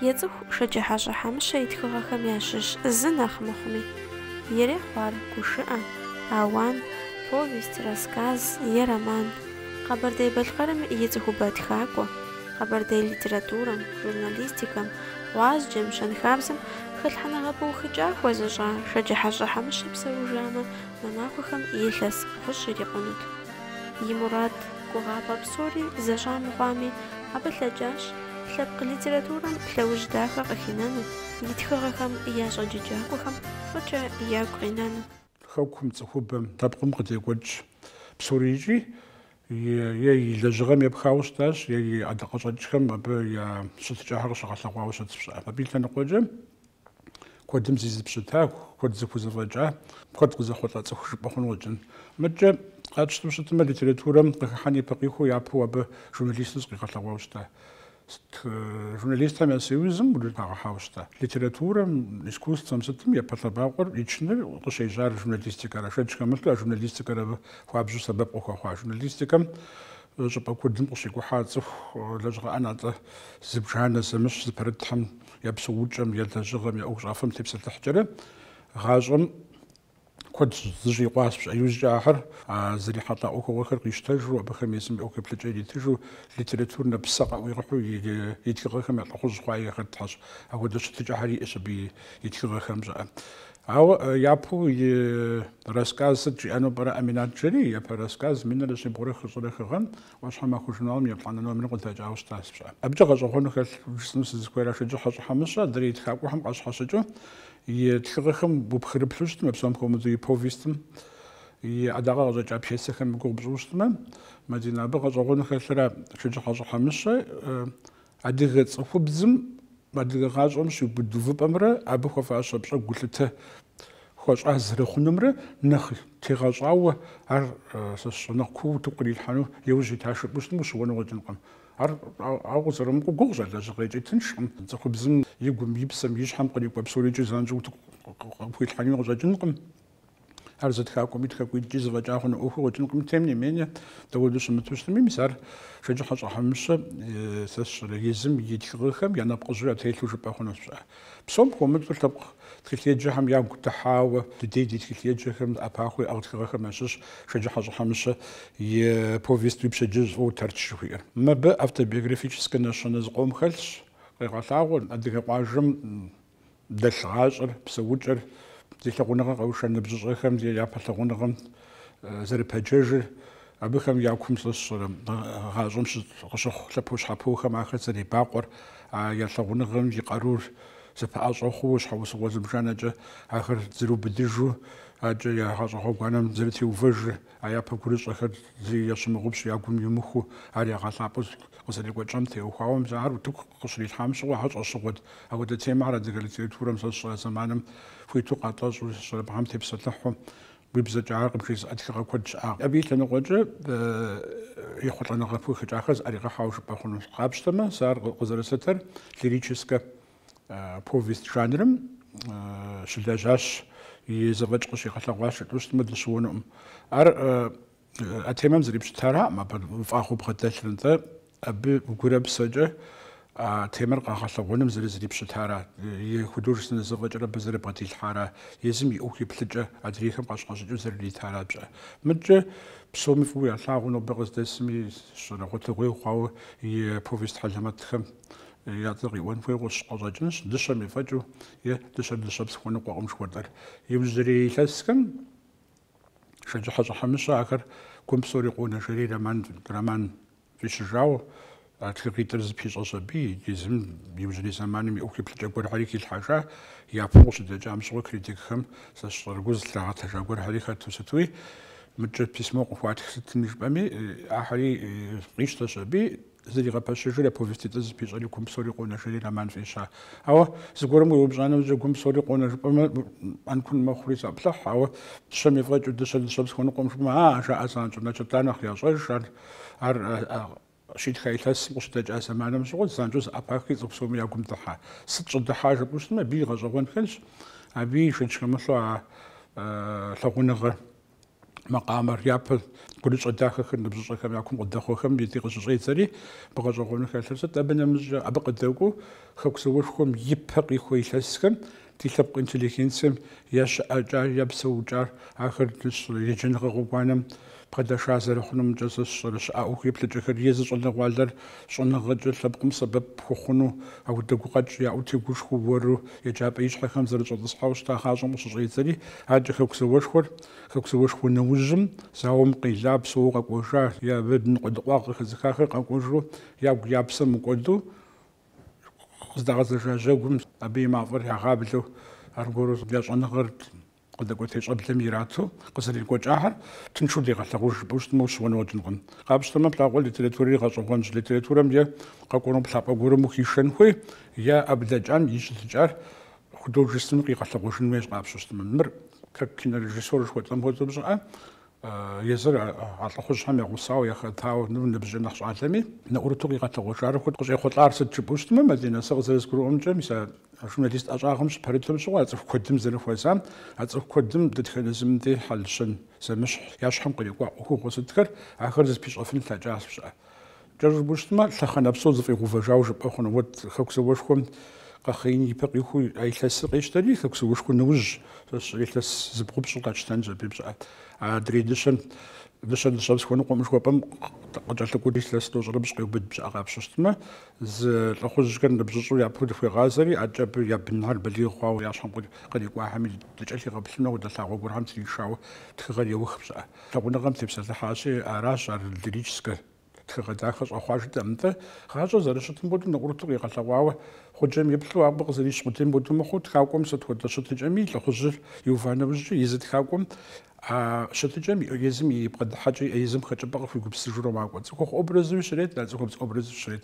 Ецӏыху Шэджыхьэщӏэ Хьэмыщэ и тхыгъэхэм ящыщ зы нэхъ мыхъуми. Ирехъу ар гушыӏэ, ауан, повесть, рассказ е роман. Къэбэрдей-Балъкъэрым и цӏыхубэ тхакӏуэ, къэбэрдей литературэм, журналистикэм, гъуазджэм, щэнхабзэм хэлъхьэныгъэ пыухыкӏа хуэзыщӏа Шэджыхьэщӏэ Хьэмыщэ псэужамэ, мы махуэхэм илъэс бгъущӏ ирикъунут. И мурад, гугъапӏэ псори зэщӏа мыхъуами, абы лъэкӏащ, Лъэпкъ литературэм лъэужь дахэ къыхинэну, и тхыгъэхэм я щӏэджэджакӏуэхэм фӏыкӏэ ягу къинэну. Хэкум, цӏыхубэм, лъэпкъым къыдекӏуэкӏ псори икӏи е и лэжьыгъэм епхауэ щытащ, е и ӏэдакъэщӏэкӏхэм абы я щытыкӏэхэр къыщыгъэлъэгъуауэ щытщ пщӏэ. Абы и лъэныкъуэкӏэ куэдым зизыпщыта, куэд зыхузэфӏэкӏа, куэд къызэхъулӏа цӏыху жыпӏэ хъуну къыщӏэкӏын. Мыдкӏэ къэтщтэу щытмэ, литературэм къыхыхьэн ипэ къихуэу япэу абы журналисту зыкъигъэлъэгъуауэ щыта. Сыт журналистхэм я союзым хагъэхьауэ щыта. Литературэм, искусствэм сытым япэ лъэбакъуэр ичыныр къыщежьар журналистикэра. Шэч хэмылъу а журналистикэр абы хуабжьу сэбэп къыхуэхъуа. Журналистикэм щӏыпӏэ куэдым къыщикӏухьа цӏыху лэжьыгъэ ӏэнатӏэ зыбжанэ зэмыщхь зыпэрытхэм я псэукӏэм, я лэжьыгъэм, я ӏуэхущӏафэм тепсэлъыхькӏэрэ гъащӏэм куэд зыщӏикъуащ пщӏэ иужькӏэ ахэр, а зэрихьэлӏа ӏуэхугъуэхэр къищтэжу, абыхэм езым я ӏуэхуеплъэкӏэ иритыжу, литературнэ псэ къаӏуигъэхьэу и тхыгъэхэм я лӏыхъужь хъуа яхэтхэщ. Апхуэдэ щытыкӏэхэр иӏэщ абы и тхыгъэхэм щӏыӏэ. Ауэ япэу и рассказ сыт жиӏэну пӏэрэ Ӏэминат жери. Япэ рассказ минрэ щибгъурэ хыщӏрэ хы гъэм ӏуащхьэмахуэ журналым еплӏанэ номерым къыдэкӏауэ щытащ пщӏэ. Абыкӏэ гъэщӏэгъуэну хэлъ жысӏэну сызыхуейра Шэджыхьэщӏэ Хьэмыщэ адрей тхакӏуэхэм къащхьэщыкӏыу и тхыгъэхэм упхырыплъу щытмэ, псом хуэмыдэу и повестым и ӏэдакъэ къыщӏэкӏа пьесэхэм гугъу пщӏыу щытмэ, Мадинэ, абы гъэщӏэгъуэну хэлъыра Шэджыхьэщӏэ Хьэмыщэ Адыгэ цӏыхубзым, адыгэ гъащӏэм щиубыд увыпӏэмрэ абы хуэфащэ пщӏэ гулъытэ хуэщӏа зэрыхъунумрэ нэхъ тегъэщӏауэ ар нэхъ кууэ утыку кърилъхьэну и ужь итащ жыпӏэу щытмэ, ущыуэну къыщӏэкӏынкъым. Ар, ауэ къызэрымыкӏуэу, гугъущ, а лэжьыгъэ икӏи тыншкъым. Цӏыхубзым и гум, и псэм, и щхьэм кърикӏуэ псори икӏи занщӏэу утыку къыпхуилъхьэну къыщӏэкӏынкъым. Ар зы тхакӏуэми тхакӏуитӏкӏи зэфӏэкӏа хъуну ӏуэху къыщӏэкӏынкъым, тем не менее, дауэду щымыту щытми, мис ар Шэджыхьэщӏэ Хьэмыщэ сэ сщӏэрэ, езым и тхыгъэхэм я нэпкъыжьэу ятелъу жыпӏэ хъуну сщӏа. Псом хуэмыдэу лъэпкъ тхылъеджэхэм ягу дыхьауэ, дыдей ди тхылъеджэхэм ӏэпахъуэ иӏэгъ тхыгъэхэм ящыщщ Шэджыхьэщӏэ Хьэмыщэ и повест Уи пщэдджыжь фӏыуэ Тэрч жыхуиӏэр. Мыбы автобиографическэ нэщэнэ зыкъом хэлъщ, къегъэлъагъуэр, адыгэ къуажэм дэлъ гъащӏэр, псэукӏэр, зи лъагъуныгъэр къэуша ныбжьыщӏэхэм я япэ лъагъуныгъэм зэрыпэджэжыр, абыхэм я кум сэ сщӏэрэ гъащӏэм къыщыхъу лъэпощхьэпохэм ахэр зэребакъуэр, а я лъагъуныгъэм и къарур зэпэӏэщӏэ хъууэ щхьэусыгъуэ зыбжанэкӏэ ахэр зэрыубыдыжу, адэкӏэ я гъащӏэ гъуэгуанэм зэрытеувэжыр. А япэ гурыщӏэхэр зэи ящымыгъупщ, я гум имыхуу, ар ягъэлъапӏэу къызэрекӏуэкӏам теухуауэ мис ар утыку къыщрилъхьам щыгъуэ, ар щӏэщыгъуэт. Апхуэдэ темэхэр адыгэ литературэм сэ сщӏэрэ зэманым хуиту къатӏэщӏу, щӏалэбгъэм тепсэлъыхьу, уи бзэкӏэ ар къыбжезыӏэ тхыгъэ куэд щыӏакъым. Абы и лъэныкъуэкӏэ ехъулӏэныгъэ пыухыкӏахэр зыӏэригъэхьауэ жыпӏэ хъунущ. Къапщтэмэ, сэ ар къызэрыслъытэр лирическэ повесть жанрым щылэжьащ, и зэфӏэкӏ къыщигъэлъэгъуащ жытӏэу щытмэ дыщыуэнукъым. Ар а темэм зэрипщытараӏым, абы фӏагъыу бгъэдэлъыр, нтӏэ абы гурэ псэкӏэ а темэр къэгъэлъэгъуэным зэрызрипщытара, и художественнэ зэфӏэкӏэр абы зэрыбгъэдилъхьара, езым и ӏуэху еплъыкӏэ адрейхэм къащхьэщыкӏыу зэрыритара пщӏэ. Мыдкӏэ псоми фӏыуэ ялъагъуу нобэ къыздэсми, сщӏэрэ гъуэтыгъуей хъуауэ и повесть хьэлэмэтхэм я цӏэр къиӏуэн хуей къыщӏ къыщӏэкӏынщ дыщэм ефӏэкӏыу е дыщэр дыщэпс хуэныкъуэкъым жыхуэтӏэр. Иужьрей илъэсхэм Шэджыхьэщӏэ Хьэмыщэ ахэр гум псори къонэ жери роман фӏищыжауэ а тхыгъитӏыр зыпищӏэщ абы иджы езым иужьрей зэманым и ӏуэху еплъыкӏэ гуэрхьэри хилъхьэжа, япэу къыщыдэкӏам щыгъуи критикхэм сэ сщӏэрэ гу зылърагъэтэжа гуэрхьэри хэту сытуи, мыдкӏэ письмо къыхуатх сытми жыпӏэми ахьэри къищтэщ абы. Зэригъэпэщыжри а повеститӏыр зыпищӏэри гум псори къонэ жери роман фӏища. Ауэ зыгуэрым уеупщӏа нэужькӏэ гум псори къонэ жыпӏэмэ ӏэнкун мэхъури заплъыхь, ауэ дыщэм ефӏэкӏыу дыщэр дыщэпс хуэныкъуэкъым жыпӏэмэ а, жаӏэ занщӏэу, значит ар нэхъ ящӏэж, ар, ар щитха илъэсым къыщыдэкӏа зэманым щыгъуэт, занщӏэу зэӏэпахри цӏыху псоми я гум дыхьа. Сыт щӏыдыхьа жыпӏэу щытмэ, абы и гъэщӏэгъуэн хэлъщ, абы и шэч хэмылъу а лъагъуныгъэр. макъамэр, япэ гурыщӏэ дахэхэр ныбжьыщӏэхэм я кум къыдэхъуэхэм деж къыщыщӏедзэри, абы гъэщӏэгъуэну хэлъыр сыт? Абы нэмыщӏкӏэ, абы къыдэкӏуэу Хэку зауэшхуэм и пэ къихуэ илъэсхэм, ди лъэпкъ интеллигенцием я щыӏэкӏар, я псэукӏар, ахэр еджэныгъэ гъуэгуанэм бгъэдэша зэрыхъунумкӏэ сэ сщӏэрэ щыӏа ӏуэхуеплъыкӏэхэр, езы щӏалэгъуалэр щӏэныгъэкӏэ лъэпкъым сэбэп хуэхъуну апхуэдэ гукъэкӏ яӏэу тегушхуэу уэру еджапӏэ ищхьэхэм зэрыщӏэтӏысхьауэ щыта гъащӏэм къыщыщӏедзэри, адэкӏэ Хэку зауэшхуэр, Хэку зауэшхуэ нэужьым, зауэм къела, псэууэ къэкӏуэжа е абы ныкъуэдыкъуагъ къыхэзыхахэр къэкӏуэжу ягу я псэ мыкӏуэду къыздагъэзэжа жьэгум абы и мафӏэр ягъэблэу аргуэру я щӏэныгъэр Къыдэкӏуэтей щӏэблэм ирату къызэрекӏуэкӏахэр тыншу дегъэлъагъуж жыпӏэу щытмэ, ущыуэну уэкӏынкъым. Къапщтэмэ, плъагъуэ литературэри гъэщӏэгъуэнщ. Литературэм е къэкӏуэну плъапӏэ гуэрым ухишэн хуей, е а блэкӏам и щытыкӏар художественнэу къигъэлъэгъуэжын хуейщ къапщыщтмэ. Мыр, как кинорежиссёр жыхуэтӏэм хуэдэу, пщӏыӏэ, Езыр а лӏыхъужьхэм я гъусауэ яхэтауэ ныбжьыр нэхъ щӏалэми, нэӏурыту къигъэлъэгъуэжар уэт къыщӏехъулӏар сыт жыпӏэу щытмэ, Мадинэ, сэ къызэрызгурыӏуэмкӏэ, мис а журналист ӏэщӏагъэм щыпэрытым щыгъуэ а цӏыху куэдым зэрыхуэзам, а цӏыху куэдым дэтхэнэ зым дей хьэл-щэн зэмыщхь я щхьэм кърикӏуа ӏуэхугъуэ сытхэр, ахэр зыпищӏэфын лъэкӏащ пщӏыӏэ. Кӏэщӏу жыпӏущтмэ, лъэхъэнэ псо зэфӏигъэувэжауэ жыпӏэ хъуну. Уэт Хэку зэуэшхуэм къэхъеин и пэ къихуэу а илъэсыр къещтэри, Хэку зэуэшхуэ нэужь сэ сщӏэрэ илъэс зыбгъупщӏыр къэтщтэнщ абы пщӏыӏэ. Адрей дыщэм, дыщэр дыщэпс хуэныкъуэм жыхуэпӏэм къыкӏэлъыкӏуэу илъэс тӏощӏрыпщӏ къеубыд пщӏыӏэ къапщыщтмэ, езы лӏыхъужьхэр ныбжьыщӏу япэу дыхуегъазэри, адэкӏэ абы я бынхэр балигъ хъуауэ я щхьэм кърикӏуахэми дыкӏэлъигъэплъыну хуэдэ лъагъуэ гуэрхэм тришауэ тхыгъэр еух пщӏыӏэ. Лъагъуныгъэм тепсэлъыхьащи, аращ ар лирическэ Тхыгъэ дахэ щӏэхъуа жытӏэм нтӏэ, гъащӏэр зэрыщытым хуэдэу нэӏурыту къигъэлъэгъуауэ, гъуджэм иплъу абы къызэрищ къудейм хуэдэу мыхъуу, тхакӏуэм сыт хуэдэ щытыкӏэми лӏыхъужьыр иува нэужькӏэ, езы тхакӏуэм а щытыкӏэм и езым и бгъэдыхьэкӏэ, и езым хэкӏыпӏэ къыхуигупсыжурэ макӏуэ. Цӏыхухъу образуи щрет, а цӏыхубз образуи щрет.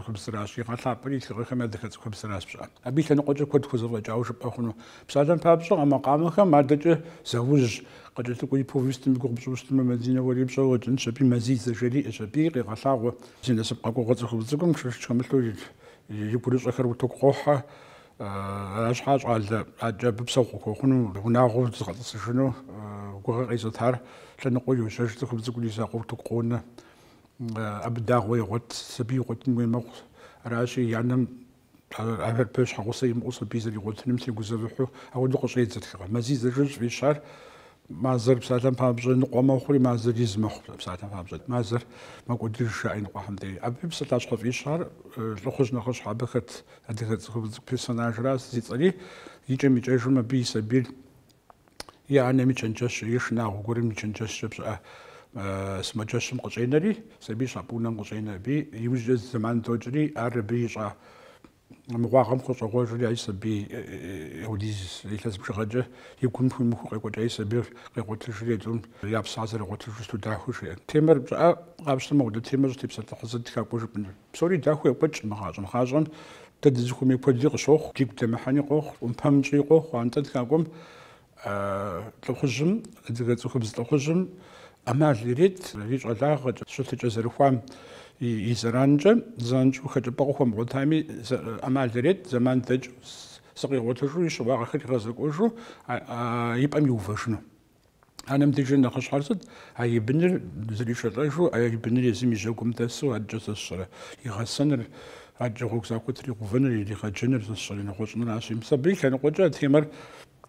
Цӏыхубзращ, игъэлъапӏэр и тхыгъэхэм адыгэ цӏыхубзращ пщӏыӏэ. Абы и лъэныкъуэкӏэ куэд хуэзэфӏэкӏауэ жыпӏэ хъуну. Псалъэм папщӏэ, а макъамэхэм адэкӏэ заужь, къыкӏэлъыкӏуэ и повестым и гугъу пщӏыущтмэ, Мадинэ уэри пщӏэ уэкӏынщ, абы Мазэ из жери иӏэщ. Абыи къегъэлъагъуэ. Зи насып къэкӏуэгъуэ цӏыхубз цӏыкӏум шэч хэмылъу и гурыщӏэхэр утыку къохьэ. Арщхьэ щӏалэ адэкӏэ абы псэогъу хуэхъуну, унагъуэу зыгъэтӏысыжыну гугъэ къезытар лъэныкъуэу йощэж цӏыхубз цӏыкӏур и закъуэ утыку къонэ. Абы дагъуэ егъуэт, сабий игъуэтын хуей мэхъу. Аращи, и анэм ӏэхэр-пэ щхьэгъусэ имыӏэу сабий зэригъуэтыным тегузэвыхьу ахуэдэу къыщӏедзэ тхыгъэр. Мазэ из жиӏу щӏыфӏищар, мазэр псалъэм папщӏэ ныкъуэ мэхъури, мазэр из мэхъу псалъэм папщӏэ. Мазэр мэкӏуэдыж, жаӏэ иныкъуэхэм дей. Абы и псалъащхьэ фӏищар лӏыхъужь нэхъыщхьэ абы хэт адыгэ цӏыхубз персонажращ, зи цӏэри икӏэм-икӏэжым абы и сабийр и анэм и чэнджэщкӏэ, и шынагъуэ гуэрым и чэнджэщкӏэ пщыӏэ сымаджэщым къыщӏенэри, сабий щапӏ унэм къыщӏенэ. Абы иужькӏэ зы зэман докӏри, ар абы ищӏа мыгъуагъэм хущӏегъуэжри, а и сабий ахуэдиз илъэс бжыгъэкӏэ и гум хуимыху къекӏуэкӏа и сабийр къигъуэтыжри, тӏум я псэр зэрыгъуэтыжу сыту дахэу жиӏэн. Темэр пщыӏэ къапщтэмэ, мыхуэдэ темэ щӏытепсэлъыхьу зы тхакӏуэ жыпӏэныр. Псори дахэу екӏуэкӏкъым гъащӏэм. Гъащӏэм дэ дызыхуэмей куэди къыщохъу, дигу дэмыхьэни къохъу, ӏумпэм тщӏыи къохъу. Антӏэ тхакӏуэм лӏыхъужьым, адыгэ цӏыхубз лӏыхъужьым ӏэмал ирет и щӏалагъэкӏэ, щытыкӏэ зэрыхуам и зэранкӏэ, занщӏэу хэкӏыпӏэ къыхуэмыгъуэтами ӏэмал ирет, зэман дэкӏыу, зыкъигъуэтыжу, и щыуагъэхэр игъэзэкӏуэжу и пӏэм иувэжыну. Анэм деж нэхъыщхьэр сыт? А и быныр зэришэлӏэжу, а и быныр езым и жьэгум дэсу адэкӏэ зэсщӏэрэ? И гъэсэныр, адэкӏэ гъуэгу захуэ тригъэувэныр, иригъэджэныр сэ сщӏэрэ нэгъуэщӏыныращи. Мис абы и лъэныкъуэкӏэ а темэр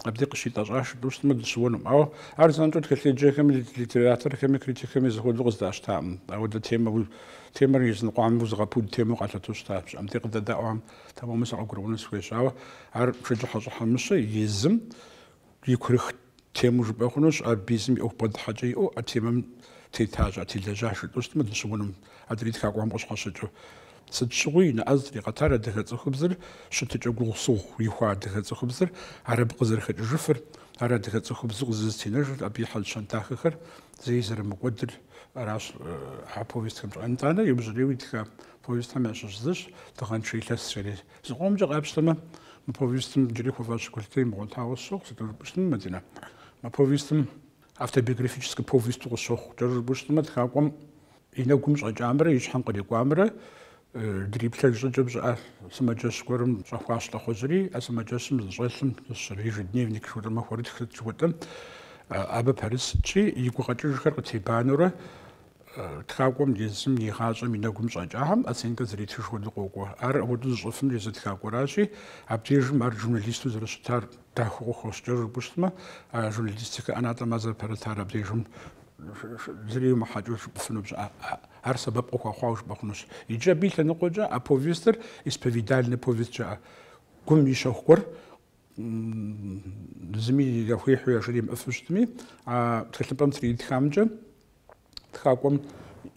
абдей къыщитӏэщӏащ жытӏэу щытмэ, дыщыуэнукъым. Ауэ ар занщӏэу тхылъеджэхэми, литераторхэми, критикхэми зэхуэдэу къызэдащтакъым. Ауэдэ темэ, темэр языныкъуэм узыгъэпуд темэу къалъытэу щыта. Пщыӏэм те къыдэдаӏуэхэм, тэмэму сакъыгурыӏуэну сыхуейщ. Ауэ ар Шэджыхьэщӏэ Хьэмыщэ езым И курых темэу жыпӏэ хъунущ, абы езым и ӏуэху бгъэдыхьэкӏэ иӏэу, а темэм тетащ, а телэжьащ жытӏэу щытмэ, дыщыуэнукъым, адрей тхакӏуэхэм къыщхьэщыкӏыу. Сыт щыгъуи, и нэӏэ зытригъэтар адыгэ цӏыхубзыр щытыкӏэ гугъусыгъу ихуа адыгэ цӏыхубзыр, ар абы къызэрыхэкӏыжыфыр, ар адыгэ цӏыхубзу къызызэтенэжыр, абы и хьэл-щэн дахэхэр зэи зэрымыкӏуэдыр аращ а повестхэмкӏэ. Итӏанэ иужьрейуэ итха повестхэм ящыщ зыщ Дыгъэншэ илъэсхэри. Зыкъомкӏэ къапщтэмэ, мы повестым джыри хуэфащэ гулъытэ имыгъуэтауэ сщохъу, сыту жыпӏэу щытмэ, Мадинэ. Мы повестым автобиографическэ повесту къысщохъу. Кӏэщӏу жыпӏэу щытмэ, тхакӏуэм и нэгум щӏэкӏамрэ и щхьэм кърикӏуамрэ дриплъэж щӏыкӏэм щыӏэ сымаджэщ гуэрым щӏэхуащ лӏыхъужьри, а сымаджэщым здыщӏэлъым сэ сщӏэрэ ежедневник жыпӏэу махуэрытх сыт жыхуэтӏэм, абы пэрыс сытщи, и гукъэкӏыжхэр къытебанэурэ тхакӏуэм езым и гъащӏэм и нэгум щӏэкӏахэм оценкэ зэритыж хуэдэу къокӏуэ. Ар апхуэдэу зыщӏыфынур езы тхакӏуэращи, абдежым ар журналисту зэрыщытар дахэу къыхощ, кӏэщӏу жыпӏэу щытмэ, а журналистикэ ӏэнатӏэм ар зэрыпэрытар абдежым зыри иумыхьэкӏэу жыпӏыфыну пщӏы, ар сэбэп къыхуэхъуауэ жыпӏэ хъунущ. Иджы абы и лъэныкъуэкӏэ а повестыр исповедальнэ повест жаӏэ. Гум и щэху гуэр зыми яхуихьу яжримыӏыфу щытми, а тхылъымпӏэм зэрытритхамкӏэ тхакӏуэм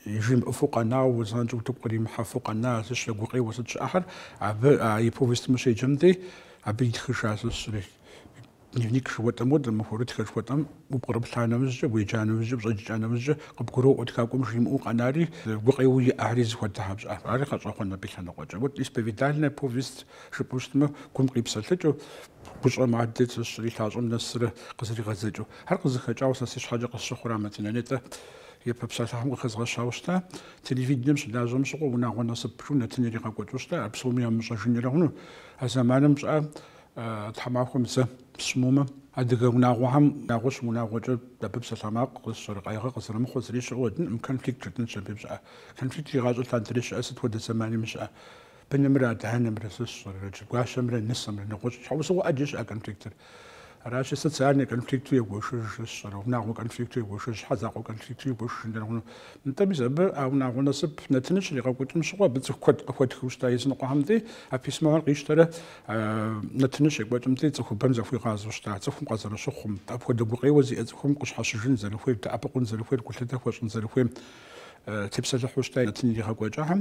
жимыӏыфу къэнауэ, занщӏэу утыку къримыхьэфу къэна зыщ я гукъеуэ сыт щыӏэхэр, абы а и повестым ущеджэм дей, абы итхыжа сэ сщӏэрэ. Дневник жыхуэтӏэм хуэдэу, махуэрытх жыхуэтӏэм упкърыплъа нэмыжькӏэ, уеджа нэмыжькӏэ, щӏэбджыкӏа нэмыжькӏэ къыбгуроӏуэ тхакӏуэм жимыӏэу къэнари, гукъеуэ иӏари зыхуэдэ хьэпщӏа. Ари гъэщӏэгъуэнщ абы и лъэныкъуэкӏэ. Вот исповедальнэ повесть Жыпӏэу щытмэ, гум къипсэлъыкӏыу, гущӏэм адэ зыщӏэрэ и лъащӏэм нэсрэ къызэригъэдзэкӏыу. Ар къызыхэкӏауэ сэ си щхьэкӏэ къысщыхъура Мадинэ, нтӏэ япэ псалъэхэм къыхэзгъэщауэ щыта? Телевидением щылажьэм щыгъуэ унагъуэ насып жиӏэу нэтын иригъэкӏуэкӏыу щыта? Ар псоми ямыщӏэжынрэ хъуну? А зэманым пщӏыӏэ тхьэмахуэм зэ псымумэ, адыгэ унагъуэхэм унагъуэ щымыунагъуэкӏэ абы псалъэ макъ къызыщӏэрэ къайгъэ къызэрымыхъуэ зыри щыӏэу къыщӏэкӏынкъым, конфликт жытӏэнщ абы пщӏыӏэ. Конфликт игъащӏэ лъандэрэ щыӏэ, сыт хуэдэ зэманими щыӏэ. Бынымрэ адэ-анэмрэ зыщӏэрэ, иджы гуащэмрэ нысэмрэ, нэгъуэщӏ щхьэусыгъуэ ӏэджэ щыӏэ конфликтыр. Аращи, социальнэ конфликту егуэшыж зыщӏэрэ, унагъуэ конфликту егуэшыж, щхьэ закъуэ конфликту егуэшыжын дэнэкъыну. Нтӏэ, мис абы а унагъуэ насып нэтыныр щригъэкӏуэкӏым щыгъуэ абы цӏыху куэд къыхуэтхыу щыта языныкъуэхэмкӏи, а письмохэр къищтэрэ нэтыныр щекӏуэкӏымкӏи цӏыхубэм захуигъазэу щыта, цӏыхум къызэрыщыхъум, апхуэдэ гукъеуэ зиӏэ цӏыхум къыщхьэщыжын зэрыхуейр, дэӏэпыкъун зэрыхуейр, гулъытэ хуэщӏын зэрыхуейм тепсэлъыхьу щыта нэтын иригъэкӏуэкӏхэм.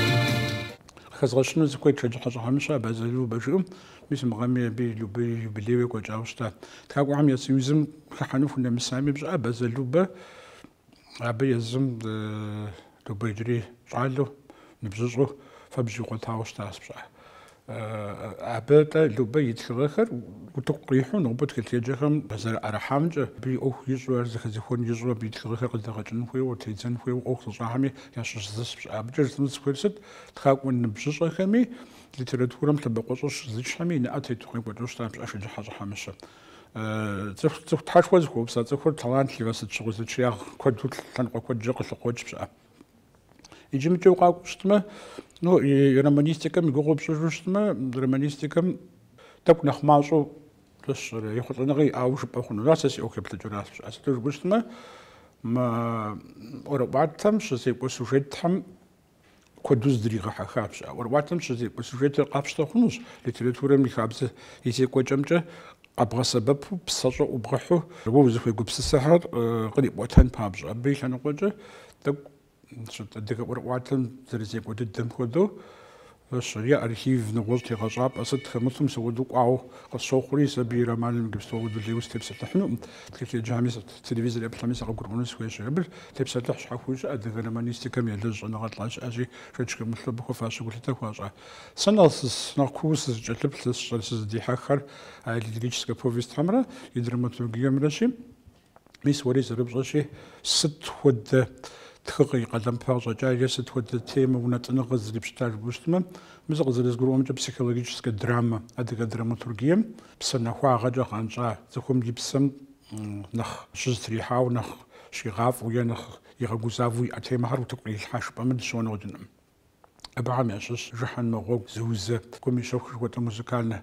Къыхэзгъэщыну сыхуейт Шэджыхьэщӏэ Хьэмыщэ Абазэ Любэ жыпӏэм. Мис мы гъэми абы и юбилейуэ екӏуэкӏауэ щыта. Тхакӏуэхэм я союзым хыхьэну хунэмысами пщӏыӏэ Абазэ Любэ абы езым Любэ иджыри щӏалэу, ныбжьыщӏэу фэбжь игъуэтауэ щытащ пщӏыӏэ. Абы-тӏэ Любэ и тхыгъэхэр утыку къихьу нобэ тхылъеджэхэм зэрыӏэрыхьамкӏэ, абы и ӏуэху ищӏу, ар зэхэзехуэн ищӏу, абы и тхыгъэхэр къыдэгъэкӏын хуейуэ, тедзэн хуейуэ ӏуэху зыщӏахэми ящыщ зыщ пщӏыӏэ. Абыкӏэ жысӏэну сыхуейр сыт? Тхакӏуэ ныбжьыщӏэхэми, литературэм лъэбакъуэщӏэ щызычхэми и нэӏэ тету къекӏуэкӏыу щытащ пщӏыӏэ Шэджыхьэщӏэ Хьэмыщэ. Цӏыху тхьэшхуэ зыхуэупса цӏыхур талантливэ сыт щыгъуи зэчиягъ куэду лъэныкъуэ куэдкӏэ къылъыкъуокӏ пщӏыӏэ. Иджы мыкӏэ укъакӏуэу щытмэ, ну, и романистикэм и гугъу пщӏыжу щытмэ, романистикэм тӏэкӏу нэхъ мащӏэу зыщӏэрэ, ехъулӏэныгъэ иӏауэ жыпӏэ хъуну. Ар сэ си ӏуэху еплъыкӏэращ. А сыту жыпӏэу щытмэ, мы ӏуэрыӏуатэм щызекӏуэ сюжетхэм куэду зыдригъэхьэхащ. А ӏуэрыӏуатэм щызекӏуэ сюжетыр къапщтэ хъунущ литературэм и хабзэ и зекӏуэкӏэмкӏэ къэбгъэсэбэпу псэщӏэ ӏубгъэхьэу уэ узыхуегупсысэхэр кърипӏуэтэн папщӏэ. Абы и лъэныкъуэкӏэ тӏэкӏу сыт адыгэ ӏуэрыӏуатэм зэрызекӏуэ дыдэм хуэдэу зыщӏэрэ, е архив нэгъуэщӏ тегъэщӏапӏэ сыт хэмылъу мис ауэдэу кӏуауэ къысщохъури, сэ абы и романым иджыпсту ауэдэу лейуэ сытепсэлъыхьынукъым. Тхылъеджэми сыт, телевизор еплъэми сыкъыгурыӏуэну сыхуейщ. Абы тепсэлъыхь щхьэхуэу щыӏэ адыгэ романистикэм елэжь щӏэныгъэлӏ щыӏэщи, шэч хэмылъу абы хуэфащэ гулъытэ хуащӏа. Сэ нэхъ сыс, нэхъ кууэ сызыкӏэлъыплъыр, сщӏэр, сызыдихьэххэр а лирическэ повестхэмрэ и драматургиемрэщи, мис уэри зэрыпщӏэщи, сыт хуэдэ тхыгъэ и къалэмыпэ къыщӏэкӏа е сыт хуэдэ темэ, унэтӏыныгъэ зрипщыта жыпӏэу щытмэ, мы сэ къызэрызгурыӏуэмкӏэ психологическэ драмэ, адыгэ драматургием псэ нэхуагъэкӏэ гъэнщӏа, цӏыхум и псэм нэхъ щызэтрихьауэ, нэхъ щигъафӏэу е нэхъ игъэгузавэу иӏэ темэхэр утыку къырилъхьа жыпӏэмэ дыщыуэну къыщӏэкӏынкъым. Абыхэм ящыщ Жыхьэнмэ гъуэгу зыузэ Гум и щэху жыхуэтӏэ музыкальнэ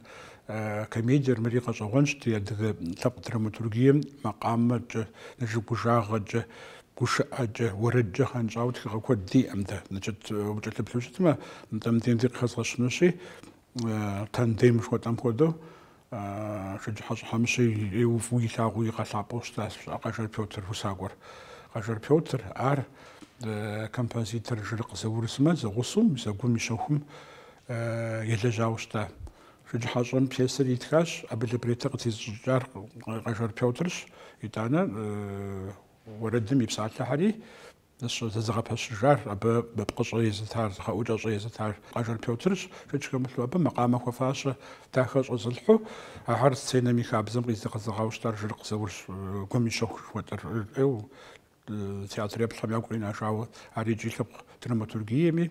комедиер. Мыри къэщӏэгъуэнщ ди адыгэ лъэпкъ драматургием макъамэкӏэ, нэжэгужагъэкӏэ, гушыӏэкӏэ, уэрэдкӏэ гъэнщӏауэ тхыгъэ куэд диӏэм дэ. Значит, укӏэлъыплъу щытмэ, нтӏэ мыбдеж ди къыхэзгъэщынущи, Тандем жыхуэтӏэм хуэдэу Шэджыхьэщӏэ Хьэмыщэ ӏейу фӏыуэ илъагъуу игъэлъапӏэу щытащ Къажэр Пётр усакӏуэр. Къажэр Пётр ар композитор Жырыкъ Заур сымэ зэгъусэу мис а гум и щэхум елэжьауэ щыта. Шэджыхьэщӏэм пьесэр итхащ, абы либретто къытезыщӏыкӏар Къажэр Пётрщ, итӏанэ уэрэдым и псалъэхэри Зэзыгъэпэщыжар, абы пкъыщӏэ езытар, зы гъэӏукӏэщӏэ езытар Къажэр Пётрщ. Шэч хэмылъу абы макъамэ хуэфащэ дахэ щӏэзылъхьу, ахэр сценэм и хабзэм къизыгъэзэгъауэ щытар Жырыкъ Заурщ, гум и щэху жыхуэтӏэр, ӏейу театр еплъхэм ягу къинэжауэ, ар икӏи лъэпкъ драматургиеми,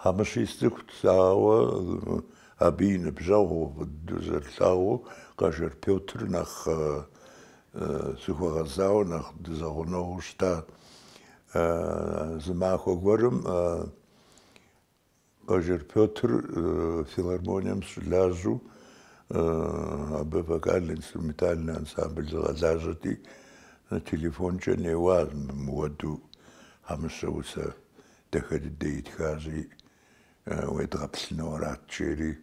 Хьэмыщи сцӏыхут, ауэ абы и ныбжьэгъуу фӏы дыдэу зэрылъагъуу Къажэр Пётр нэхъ сыхуэгъэзауэ, нэхъ дызэгъунэгъуу щыта. Зы махуэ гуэрым Къажэр Пётр филармонием щылажьэу абы вокально-инструментальный ансамбль згъэлажьэрти, телефонкӏэ неуащ мыуэду Хьэмыщэ усэ Дахэ дыдэ итхащи, уедгъэплъыну арат, жери,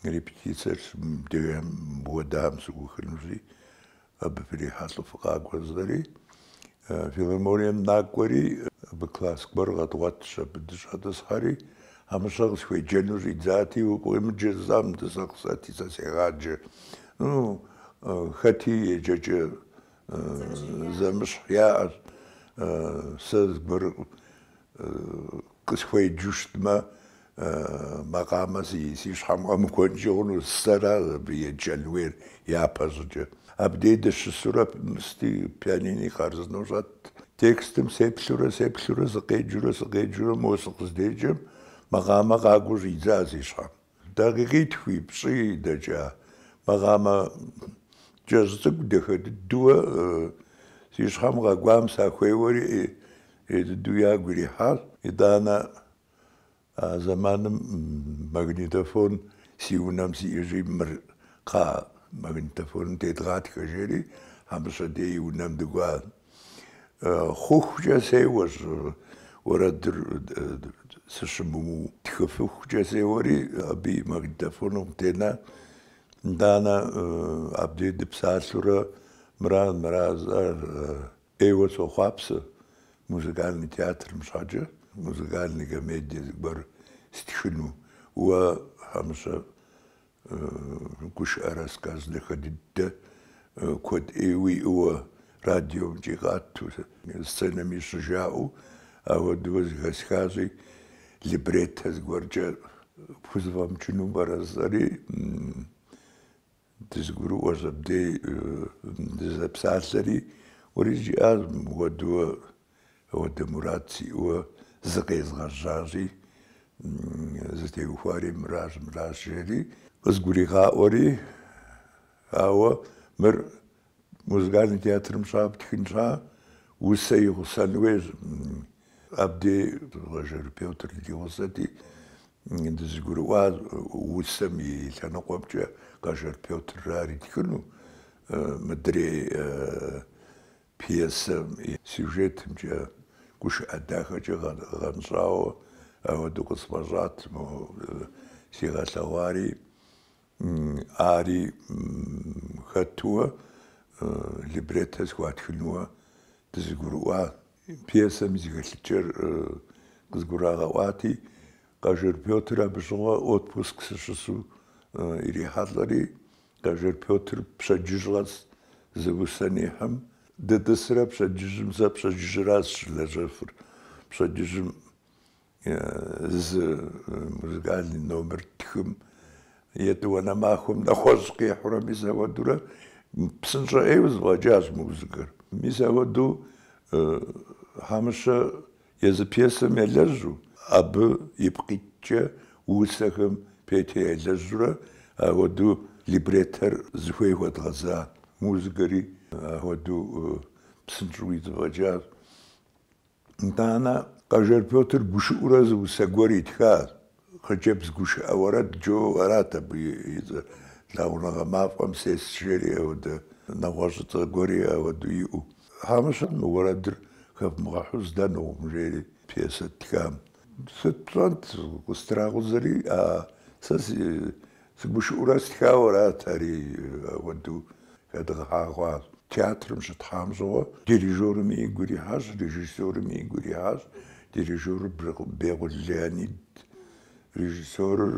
репетициер мыуэдэм сыухынущи, абы фрихьэлӏэу фыкъакӏуэ жысӏэри, филармонием накӏуэри, абы класс гуэр къэдгъуэтщ, абы дыщӏэтӏысхьэри, Хьэмыщэ къысхуеджэну щӏидзати, укъемыджэ зэ, мыдэ сэ къызэти, сэ сегъаджэ. Ну, хэти еджэкӏэ Зэмыщхь яӏэщ, сэ зыгуэр къысхуеджу щытмэ, макъамэ си щхьэм къэмыкӏуэнкӏи хъуну, сэращ абы еджэн хуейр япэщӏыкӏэ. Абдей дыщысурэ сыти пианини хъарзынэу щӏэт. Текстым сеплъурэ сеплъурэ, сыкъеджурэ сыкъеджурэ, мо сыкъыздеджэм макъамэ къакӏуэу щӏидзащ си щхьэм. Дакъикъитхуи пщӏи дэкӏа макъамэ кӏэщӏ цӏыкӏу дахэ дыдэу си щхьэм къэкӏуам сахуеуэри ӏей дыдэу ягу ирихьащ. Итӏанэ а зэманым магнитофон си унэм сиӏэ жи, мыр кхъа магнитофоным тедгъатхэ жери, Хьэмыщэ дей и унэм дыкӏуащ. Хъухукӏэ сеуэщ уэрэдыр сыщымыуу. Тхыфыхукӏэ сеуэри, абы и магнитофоным тена, итӏанэ абдей дыпсалъэурэ, мыра, мыра, сэ ӏейуэ сохъуапсэ музыкальный театрым щхьэкӏэ, музыкальный комедие зыгуэр стхыну. Уэ, Хьэмыщэ, Гушыӏэ рассказ дахэ дыдэ куэд ӏейуэ уиӏэуэ радиомкӏи къату, сценэми щыжаӏэу ауэдууэ зыхэсхащи, либреттэ зыгуэркӏэ пхузэфӏэмыкӏыну пӏэрэ жысӏэри, дызыгурыӏуэщ абдей дызэпсалъэри. Уэри жиӏащ мыпхуэдэу Апхуэдэ мурад сиӏэуэ зыкъезгъэжьащи, зытеухуари мыращ, мыращ, жери къызгуригъаӏуэри, ауэ мыр музыкальный театрым щхьа птхын щхьа усэ игъусэн хуейщ. Абдей Къэжэр Пётр ди гъусэти, дызыгурыӏуа усэм и лъэныкъуэмкӏэ Къэжэр Пётр ар итхыну, мыдрей Пьесэм и сюжетымкӏэ гушыӏэ дахэкӏэ гъэнщӏауэ ауэдэу къысфӏэщӏат, сигъэлъэгъуари ари хэтууэ либреттэ схуатхынууэ дызыгурыӏуа. Пьесэм и зэхэлъыкӏэр къызгурагъэӏуати, Къэжэр Пётр абы щыгъуэ отпуск сыщысу ирихьэлӏэри, Къэжэр Пётр пщэдджыжь къэс зы усэ нихьым, дытӏысрэ пщэдджыжьым сэ пщэдджыжьра сыщылэжьэфыр. Пщэдджыжьым зы музыкальный номер ттхым, етӏуанэ махуэм нэхъуэщӏ къихьурэ мис ахуэдурэ псынщӏэ ӏейуэ зэфӏэкӏащ музыкэр. Мис ахуэду Хьэмыщэ Езы пьесэм елэжьу, абы ипкъ иткӏэ усэхэм Петэ елэжьурэ, ауэдэу либреттэр зыхуей хуэдгъэза, музыкэри ахуэдэу псынщӏэу зэфӏэкӏащ. Итӏанэ Къэжэр Пётр гушыӏэурэ зы усэ гуэр итхащ. Хъыджэбз гушыӏэ уэрэд жо арат абы и цӏэр. Лъагъуныгъэ мафӏэм сес жери ауэдэ, нэгъуэщӏыцӏэ гуэри ауэдэу иӏэу. Хьэмыщэ мы уэрэдыр хэвмыгъэхьу здэнукъым жери пьесэ ттхам. Сыт пщӏэнт, къыстракъузэри, а сэ си Сыгушыӏурэ стхауэрат ари ахуэду хэдгъэхьагъащ. Театрым щытхьам щыгъуэ дирижёрым игу ирихьащ, режиссёрым игу ирихьащ. Дирижёрыр Бекъул Леонид, режиссёрыр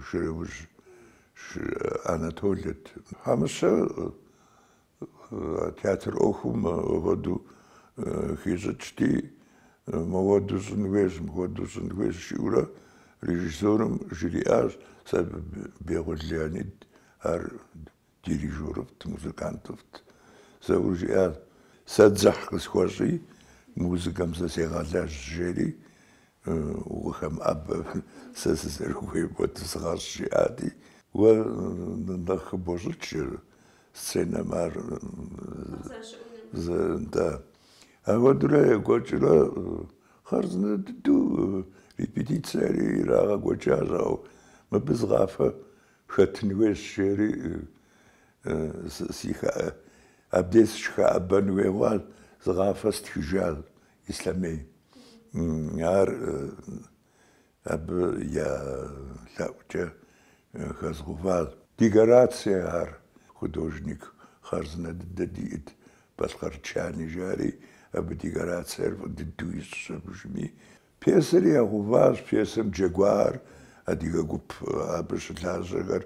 Шэрэужь Анатолэт. Хьэмыщэ Театр ӏуэхум апхуэдэу хищӏыкӏти, мыуэду щӏын хуейщ, мыхуэду щӏын хуейщ, жиӏэурэ режиссёрым жриӏащ, сэ Бекъул Леонид ар дирижёрыфӏт, музыкантыфӏт, зэур жиӏащ, сэ дзыхь къысхуэщӏи, музыкэм сэ сегъэлэжь, жери, укъыхэмыӏэбэ, сэ сызэрыхуейм хуэдэу сыгъэщӏ, жиӏати, уэ нэхъ хыбощӏыкӏ, Сценэм ар да. Ахуэдэурэ екӏуэкӏрэ хъарзынэ дыдэу репетицэри ирагъэкӏуэкӏащ, ау мыбы зы къафэ хэтын хуейщ жери абдей сыщыхэӏэбэн хуей хъуащ, зы къафэ стхыжащ Ислъэмей. Ар Абы я лъэӏукӏэ хэзгъэуващ. Декорацие ар художник хъарзынэ дыдэ диӏэт, Балъкъэр Чани жари, абы декорациер фӏы дыдэу ищӏщ абыжми. Пьесэри ягъэуващ, пьесэм джэгуар, адыгэ гуп абы щылажьэхэр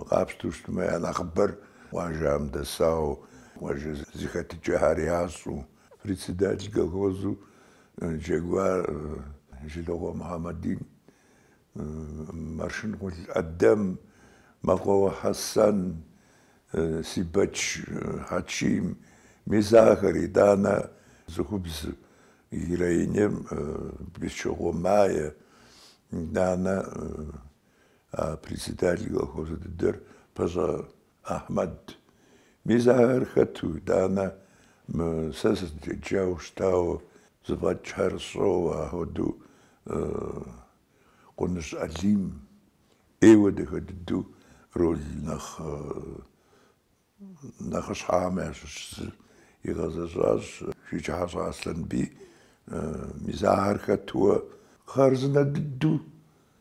къапщтэу щытмэ, я нэхъыбэр. Къуажэм дэсауэ къуажэ зэхэтыкӏэхэр ящӏэу, Председатель колхозу джэгуар Жылокъуэ Мухьэмэдин, Маршэнкъул Адэм, Мэкъуауэ Хьэсэн, Сибэч Хьэчим, мис ахэр итӏанэ цӏыхубз героинэм Бесчокъуэ Майе, итӏанэ а председатель колхозу дыдэр Пащӏэ Ахьмэд, Мис ахэр хэту, итӏанэ мы сэ сызыдеджауэ щытауэ зэфӏэкӏхэр сщӏэуэ, ахуэдэу Къуныжь Алим ӏейуэ дахэ дыдэу роль нэхъ нэхъыщхьэхэм ящыщ зыр игъэзэщӏащ, Шэджыхьэщӏэ Аслъэнбий, мис ахэр хэтуэ хъарзынэ дыдэу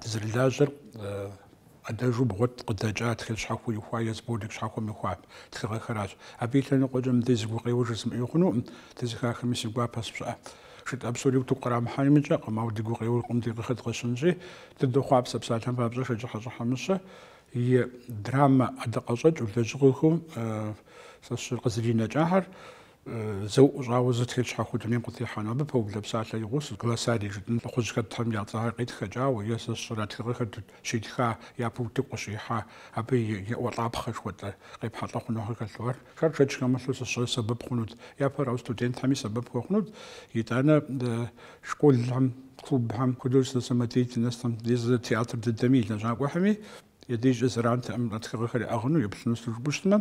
Дызэрылажьэр ӏэдэжу бгъуэт къыдэкӏа тхылъ щхьэхуэ ихуа е сборник щхьэхуэм ихуа тхыгъэхэращ. Абы и лъэныкъуэкӏэ мыдэ зы гукъеуэ жысӏэмыӏэу хъунукъым, дызэхахми си гуапэщ, пщӏэ. Шытӏэ псори утыку кърамыхьа имыкӏэкъым, ауэ ди гукъеуэр къуэм дыкъыхэдгъэщынщи, дыдохъуапсэ псалъэм папщӏэ Шэджыхьэщӏэ Хьэмыщэ и драмэ ӏэдакъэщӏэкӏыу, лэжьыгъэхэу сэ сщӏэрэ къызэринэкӏахэр. Зэуӏу щӏауэ зы тхылъ щхьэхуэ дунейм къытехьэну, абы пэублэ псалъэ и гъусэу, глоссарий жытӏын, лӏыхъужь хэтхэм я цӏэ къитхэкӏауэ е сэ сщӏэрэ тхыгъэхэр щитха, япэ утыку къыщихьа, абы и еӏуэлӏапхъэ жыхуэтӏэ къепхьэлӏэ хъунухэр хэлъу. Ахэр шэч хэмылъу зы щӏыр сэбэп хъунут, япэ арауэ студентхэми сэбэп хуэхъунут. Итӏанэ школхэм, клубхэм хуэдэу самодеятельностхэм, е зы театр дыдэми и лэжьакӏуэхэми Ди дежкӏэ зэрантэкъым а тхыгъэхэр яӏыгъыну еплъыну сыту жыпӏэу щытмэ,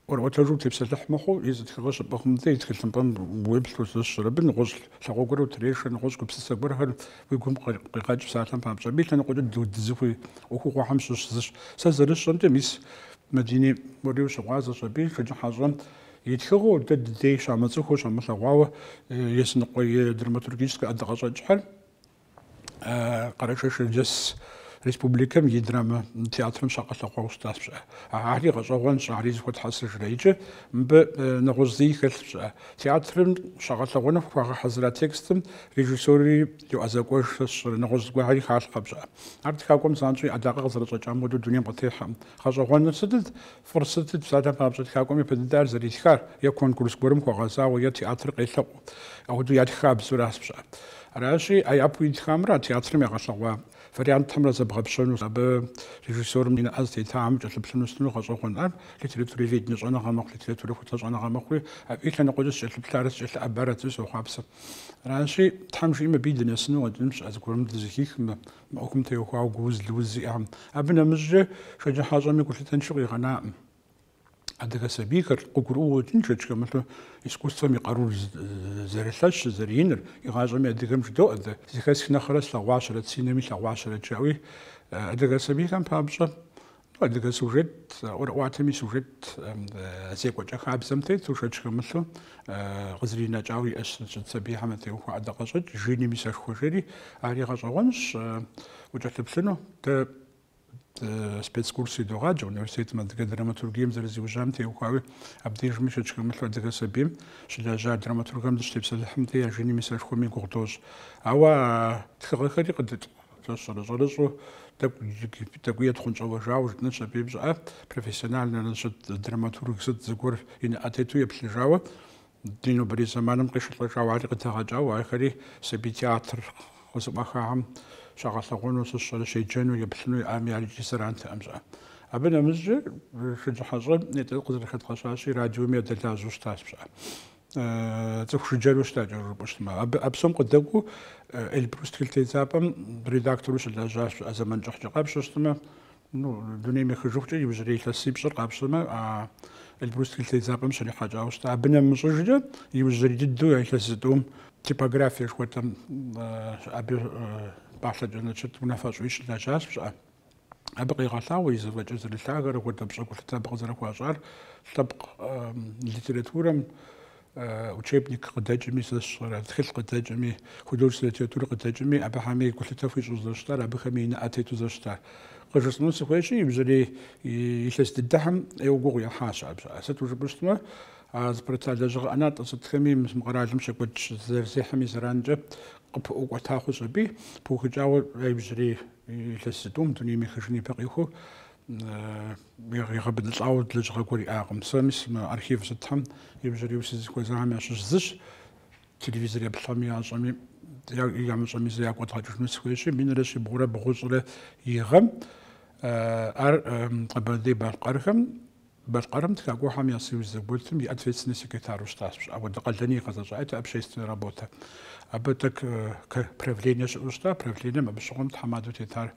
ӏуэрыӏуэтэжу утепсэлъыхь мыхъуу, езы тхыгъэр щыпӏыгъым дей и тхылъымпӏэм уеплъу сэ сщӏэрэ абы нэгъуэщӏ лъагъуэ гуэр утрешэ, нэгъуэщӏ гупсысэ гуэрхэр уи гум къегъэкӏ псалъэм папщӏэ. Абы и лъэныкъуэкӏэ дызыхуей ӏуэхугъуэхэм щыщ зыщ. Сэ зэрысщӏэмкӏэ, мис Мадини уэри ущыгъуазэщ абы, Шэджыхьэщӏэм и тхыгъэу, дэ ди дей щамыцӏыхуу, щамылъэгъуауэ языныкъуэ и драматургическэ ӏэдакъэщӏэкӏхэр. Къэрэшей-Шэрджэс республикэм и драмэ театрым щагъэлъэгъуауэ щытащ пщӏэ. Ари гъэщӏэгъуэнщ, ари зыхуэтхьэсыжрэ. Иджы мыбы нэгъуэщӏ зыи хэлъ пщӏэ. Театрым щагъэлъэгъуэну хуагъэхьэзыра текстым режиссёри йоӏэзэкӏуэж сэ сщӏэрэ, нэгъуэщӏ зыгуэрхэри халъхъэ пщӏэ. Ар тхакӏуэм занщӏэу и ӏэдакъэ къызэрыщӏэкӏам хуэдэу дунейм къытехьэкъым. Гъэщӏэгъуэныр сытыт? Фӏыр сытыт псалъэм папщӏэ тхакӏуэм япэ дыдэ ар зэритхар, е конкурс гуэрым хуэгъэзауэ, е театр къелъэӏуу апхуэдэу ятх хабзэу аращ пщӏэ. Аращи, а япэу итхамрэ а театрым ягъэлъэгъуа вариантхэмрэ зэбгъэпщэну, абы режиссёрым и нэӏэ зытетам кӏэлъыплъыну сытыну гъэщӏэгъуэн? Ар литературоведение щӏэныгъэ мэхъу, литературэхутэ щӏэныгъэ мэхъури, абы и лъэныкъуэкӏэ сыкӏэлъыплъарэт сыкӏэлъыӏэбарэт жысӏэу сохъуапсэ. Аращи, Тхьэм жиӏэм абыи дынэсыну къэкӏыным щыӏэ зыгуэрым дызэхихмэ. Мы ӏуэхум теухуауэ гууз лыуз зиӏэхэм. Абы нэмыщӏкӏэ Шэджыхьэщӏэми гулъытэншэу къигъэнакъым. Адыгэ сабийхэр къыгурыӏуэу къыщӏэкӏынщ шэч хэмылъу искусствэм и къарур зэрылъэщыр, зэрыиныр. Игъащӏэми адыгэм жыдоӏэ дэ. Зыхэсх нэхърэ слъэгъуащэрэт, си нэм илъэгъуащэрэт жаӏэуи, адыгэ сабийхэм папщӏэ Адыгэ сюжет ӏуэрыӏуатэми сюжет зекӏуэкӏэ хабзэм тету, шэч хэмылъу къызринэкӏауэ иӏэщ сыт сабийхэм ятеухуа ӏэдакъэщӏэкӏ, Жиным и сэшхуэ жери. Ари гъэщӏэгъуэнщ укӏэлъыплъыну. Дэ спецкурс идогъаджэ университетым адыгэ драматургием зэрызиужьам теухуауи, абдежми шэч хэмылъу адыгэ сабийм щылэжьа драматургэм дыщытепсэлъыхьым дей а Жиным и сэшхуэми гугъу дощӏ. Ауэ а тхыгъэхэри къыдытӏ. Сэ сщӏэрэ щӏэрыщӏэу тӏэкӏу джыгип, тӏэкӏуи етхъунщӏэуэжауэ жытӏэнщ абыи пщӏэ, профессиональнэу щыт, драматург сыт зыгуэр и нэӏэ тету еплъыжауэ, ди нобэрей зэманым къишэлӏэжауэ ари къыдэгъэкӏауэ, ахэри сабий театр къызэӏуахахэм щагъэлъэгъуэну, сэ сщӏэрэ щеджэну, еплъыну иӏами ари ди зэрантэкъым пщӏэ. Абы нэмыщӏкӏэ Шэджыхьэщӏэр дэ къызэрыхэдгъэщащи, радиоми ядэлажьэу щытащ пщӏэ. цӏыху жыджэру щытащ жыпӏэу щытмэ. Абы а псом къыдэкӏуу Эльбрус тхылъ тедзапӏэм редактору щылэжьащ пщӏэ зэман кӏыхькӏэ къапщтэу щытмэ, ну, дунейм ехыжыхукӏэ иужьрей илъэсипщӏыр къапщтэмэ, а Эльбрус тхылъ тедзапӏэм щрихьэкӏауэ щыта. Абы нэмыщӏыжкӏэ иужьрей дыдэу я илъэс зытӏум типографие жыхуэтӏэм абы пӏалъэкӏэ значит унафэщӏуи щылэжьащ пщӏэ. Абы къегъэлъагъуэ и зэфӏэкӏыр зэрылъагэр, апхуэдэ пщӏэ, гулъытэ абы къызэрыхуащӏар, лъэпкъ литературэм учебник къыдэкӏми сэ сщӏэрэ, тхылъ къыдэкӏми, художественная литература къыдэкӏми, абыхьэми гулъытэ хуищӏу зэрыщытар, абыхэми и нэӏэ тету зэрыщытар. Къыжысӏэну сыхуейщи, иужьрей илъэс дыдэхьэм ӏейуэ гугъу ехьащ абы щыӏэ. Сыту жыпӏэщтмэ, а зыпэрыта лэжьыгъэ ӏэнатӏэ сытхэми мы къэралым щекӏуэкӏ зэрызехьэми зэранкӏэ къыпыӏуэкӏуэта хъущ аби, пыухыкӏауэ иужьрей Илъэс зытӏум дунейм ехыжын ипэ къихуэу егъэбыдылӏауэ лэжьыгъэ гуэр иӏакъым. Сэ мис мы архив сытхэм иужьрейуэ сызыхуэзахэм ящыщ зыщ, телевизор еплъхэми ящӏэми ямыщӏэми зэ ягу къэдгъэкӏыжыну сыхуейщи, минрэ щибгъурэ бгъущӏрэ и гъэм ар Къэбэрдей-Балъкъэрхэм Балъкъэрым Тхакӏуэхэм я союз зэгуэтым и ответственный секретару щытащ. Пщӏэ апхуэдэ къалэни игъэзэщӏа, это общественная работэ. Абы тэк к правление щыӏэу щыта, правлением абы щыгъуэм тхьэмадэу тетар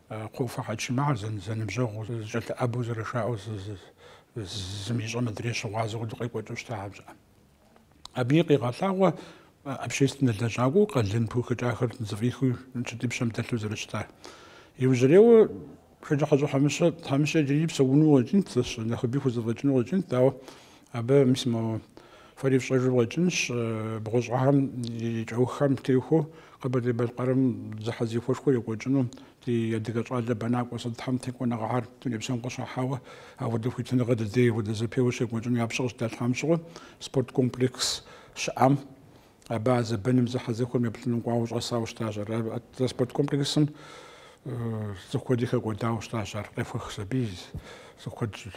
Кхъуэуфэ Хьэчим, ахэр зэн, зэныбжьэгъуу, зэкӏэлъыӏэбэу зэрышаӏэу зы, зы, зым ищӏэм адрей щыгъуазэу апхуэдэу къекӏуэкӏыу щытахэ, пщӏэ. Абыи къегъэлъагъуэ общественнэ лэжьакӏуэу къалэн пыухыкӏахэр зэфӏихыу сыт, и пщэм дэлъу зэрыщытар. Иужьрейуэ Шэджыхьэщӏэ Хьэмыщэ Хьэмыщэ иджыри псэуну къыщӏэкӏынт, зэщ нэхъыби хузэфӏэкӏыну къыщӏэкӏынт, ауэ абы мис мо фэри фщӏэжу къыщӏэкӏынщ бгъущӏэхэм и кӏэуххэм техуэу Къэбэрдей-Балъкъэрым зэхьэзэхуэшхуэ екӏуэкӏыну Ди адыгэ щӏалэ бэнакӏуэ сытхэм текӏуэныгъэхэр дуней псом къыщахьауэ апхуэдэ хуитыныгъэ дыдей апхуэдэ зэпеуэ щекӏуэкӏыну я пщэ къыщыдалъхьам щыгъуэ спорт комплекс щыӏам. Абы а зэбэным зэхьэзэхуэм еплъыным кӏуауэ щӏэсауэ щытащ ар. Атӏэ спорт комплексым цӏыху куэди хэкӏуэдауэ щытащ ар. Къехуэхщ аби, цӏыху куэд щӏ.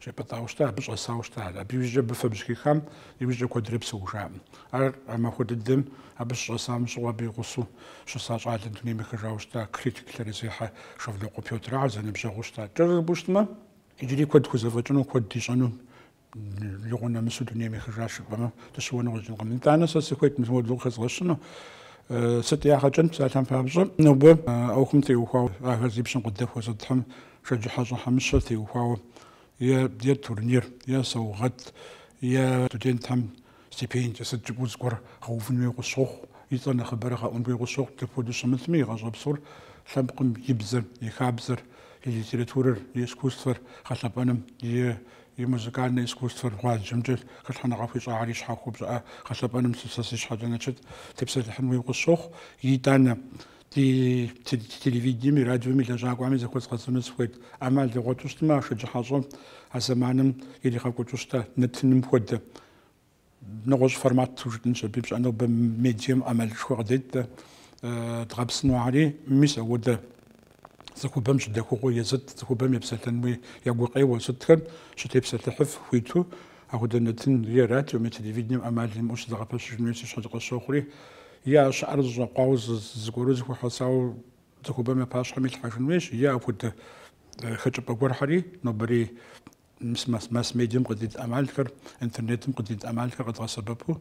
щӏипӏытӏауэ щытар, абы щӏэсауэ щытар. Абы иужькӏэ абы фэбжь хихам иужькӏэ куэдрэ псэужакъым. Ар а махуэ дыдэм абы щыщӏэсам щыгъуэ абы и гъусэу щыса щӏалэм дунейм ехыжауэ щыта критик лъэрызехьэ Шэвлокъуэ Пётр. Ар зэныбжьэгъуу щыта. Кӏэрыр абы щытмэ, иджыри куэд хузэфӏэкӏыну, куэд ищӏэну лӏэгъуэ нэмысу дунейм ехыжа жыпӏэмэ, дыщыуэну къыщӏэкӏынкъым. Итӏанэ сэ сыхуейт мыпхуэдэ хэзгъэщыну. Сыт ягъэ кӏынт, псалъэм папщӏэ, нобэ ӏуэхум теухуауэ ахэр зи пщэм къыдэхуэ сытхэм Шэджыхьэщӏэ Хьэмыщэ теухуауэ е турнир, е саугъэт, е студентхэм стипендие сыт жыпӏэу зыгуэр гъэувын хуей къыщохъу, и цӏэр нэхъыбэрэ гъэӏун хуей къыщохъу. Дапхуэдэу щымытми, игъащӏэ псор лъэпкъым и бзэр, и хабзэр, и литературэр, и искусствэр гъэлъэпӏэным, и музыкальнэ искусствэр гъуазджэмкӏэ хэлъхьэныгъэ хуищӏахэр и щхьэхуэ пщӏэ гъэлъэпӏэным сэ си щхьэкӏэ значит тепсэлъыхьын хуей къыщохъу. Итӏанэ, Ди телевидениеми радиоми лэжьакӏуэхьэми зэхуэзгъэзэну сыхуейт ӏэмал дгъуэту щытмэ, а Шэджыхьэщӏэм а зэманым иригъэкӏуэкӏыу щыта нэтыным хуэдэ нэгъуэщӏ формату жытӏынщ абы и пщӏэ. Нобэ медиэм ӏэмалышхуэ къыдет дэ дгъэпсыну ахьэри. Мис ауэдэ цӏыхубэм щыдэхугъуэ езыт, цӏыхубэм епсэлъэнуи я гукъеуэ сытхэм щытепсэлъыхьыф хуиту. Апхуэдэ нэтынри е радиоми телевидением ӏэмал имыӏэу щызэгъэпэщыжын хуейуэ си щхьэкӏэ къысщохъури, е а щыӏэр зэщӏэкъуауэ зыгуэру зэхуэхьэсауэ цӏыхубэм я пащхьэм илъхьэжын хуейщ, е апхуэдэ хэкӏыпӏэ гуэрхьэри нобэрей масс-медиэм къыдит ӏэмалхэр, интернетым къыдит ӏэмалхэр къэдгъэсэбэпу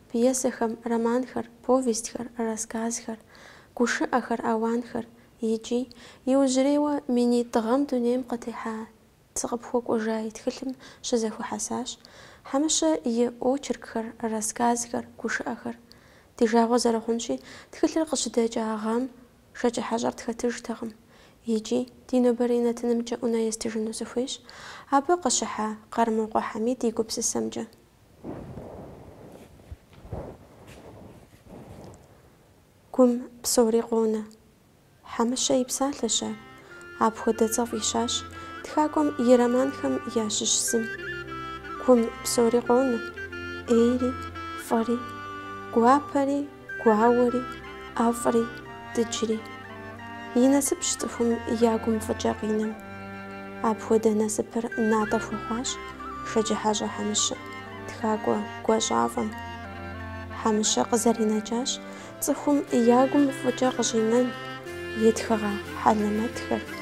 Пьесэхэм, романхэр, повестьхэр, рассказхэр, гушыӏэхэр, ауанхэр икӏи, иужьрейуэ минитӏ гъэм дунейм къытехьа Сыкъыпхуэкӏуэжа и тхылъым щызэхуэхьэсащ Хьэмыщэ и очеркхэр, рассказхэр, гушыӏэхэр. Ди жагъуэ зэрыхъунщи, тхылъыр къыщыдэкӏа гъэм Шэджыхьэщӏэр тхэтыжтэкъым икӏи, ди нобэрей нэтынымкӏэ ӏунэ естыжыну сыхуейщ абы къыщыхьа Къармокъуэ Хьэмид и гупсысэмкӏэ. Гум псори къонэ. Хьэмыщэ и псалъэщ ар. Апхуэдэ цӏэ фӏищащ тхакӏуэм и романхэм ящыщ зым. Гум псори къонэ, ӏейри, фӏыри, гуапэри, Гуауэри, ӏэфӏри, дыджри. И насыпщ цӏыхум я гум фӏыкӏэ къинэм. Апхуэдэ насыпыр натӏэ хуэхъуащ Шэджыхьэщӏэ Хьэмыщэ, тхакӏуэ гуащӏафӏэм. Хьэмыщэ къызэринэкӏащ цӏыхум я гум фӏыкӏэ къыщӏинэн и тхыгъэ хьэлэмэтхэр.